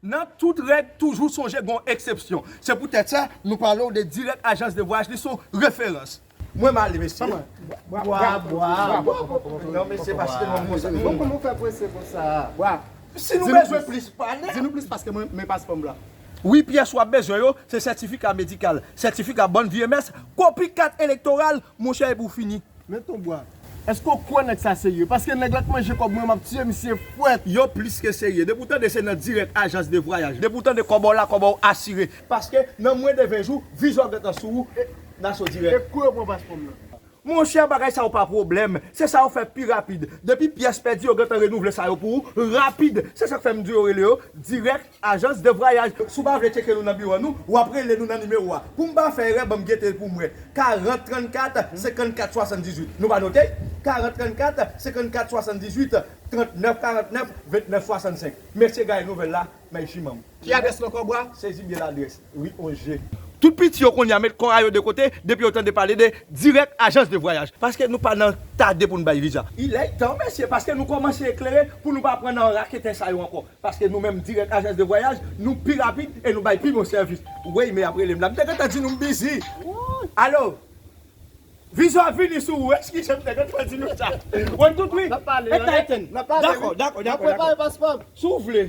Nan tout règ, toujou sonje gon eksepsyon. Se pou tèt sa, nou pale w de dirèk ajans de vwayaj, li son referans. Mwen male mesye. Bwa bwa bwa non mesye paske mwen konsa. Bon kòman w fè prese konsa a? Bwa. Si nou bezwen plis pale. Di nou plis paske mwen men paspò m la. Wi pyès wap bezwen yo, se sètifika medikal, sètifika bòn vye mès, kopi kat elektoral, monchè epi w fini. Men ton bwa. Eske w kwè nèg sa serye? Paske nèg la k manje kòb mwen map tiye misye fwèt. Yo plis ke serye. Depi w tande se nan dirèk ajans de vwayaj. Depi w tande kòbò la kòbò w asire. Paske nan mwen de 20 jou, viza w gentan sou ou e naso dirèk. E kou yo pran paspò m nan? Monchè bagay sa yo pa pwoblèm. Se sa yo fè pi rapid. Depi pyès pèdi yo gentan renouvle sa yo pou ou rapid. Se sak fè m di yo rele yo dirèk. Ajans de vwayaj, si w pa vle tcheke nou nan biwo nou, w ap rele nou nan nimewo a. Pou m pa fè erè, ban m gete l pou m wè, 40 34 54 78. Nou va note? 40 34 54 78 39 49 29 65. Mesye gaye nouvèl la, Mèsi manm. Ki adrès non kòb wa? Sezi byen ladrès wi on je. Tout piti yo konnya met kò a yo de kote depi yo tande pale de dirèk ajans de vwayaj. Paske nou pa nan tade pou n bay viza. Ilètan mesye paske nou kòmanse eklere pou nou pa pran nan raketè sa yo ankò. Paske nou menm dirèk ajans de vwayaj nou pi rapid e nou bay pi bon sèvis. Weyy me ap relem la m te gentan di nou m bizi ooh. Alo Vizyon ap vini sou ou eskize m te gentan di nou sa. Mwen tout wi e Titan dakò dakò dakò dakò si w vle.